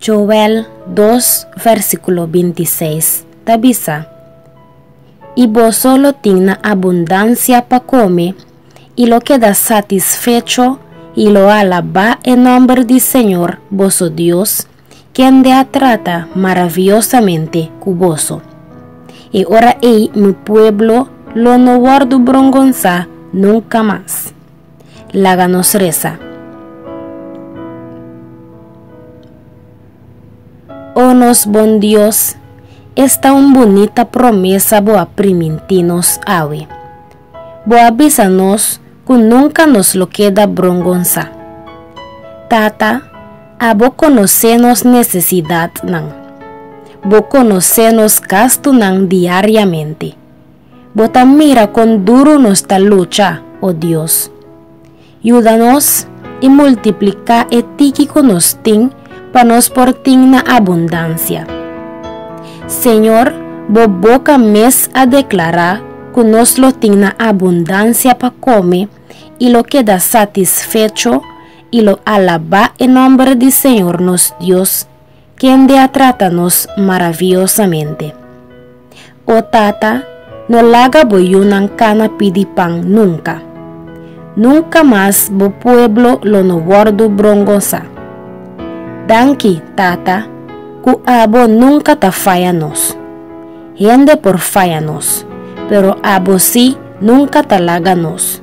Joel dos versículo 26 ta bisa, I boso lo tin na abundancia pa come, i lo keda satisfecho, i lo alabá e nomber di Señor, boso Dios, kende a trata maraviosamente ku boso. E ora ei mi pueblo lo no wòrdu brongonsá nunka mas. Laga nos resa. O nos Bon Dios, esta un bunita promesa bo a primintí nos awe. Bo a bisa nos cu nunca nos lo keda brongonsá. Tata, abo conocé nos necesidadnan. Bo conocé nos gastunan diariamente. Bo ta mira con duro nos ta lucha, oh Dios. Yuda nos i multipliká e tiki ku nos tin pa nos por tin na abundansia. Señor, bo boka mes a deklará ku nos lo tin na abundansia pa kome i lo keda satisfecho i lo alabá e nòmber di Señor nos Dios, kende a trata nos maraviosamente. O Tata, no laga bo yunan kana pidi pan nunka. Nunka mas bo pueblo lo no wòrdu brongonsá. Danki, Tata, ku abo nunka ta faya nos. Hende por faya nos, pero abo sí nunka ta laga nos.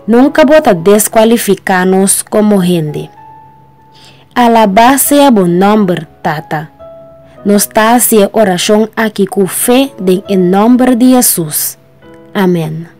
Nunka bo ta deskualifiká nos komo hende. Alabá sea bo nòmber, Tata. Nos ta hasi e orashon akí ku fe den e nòmber di Hesus. Amèn.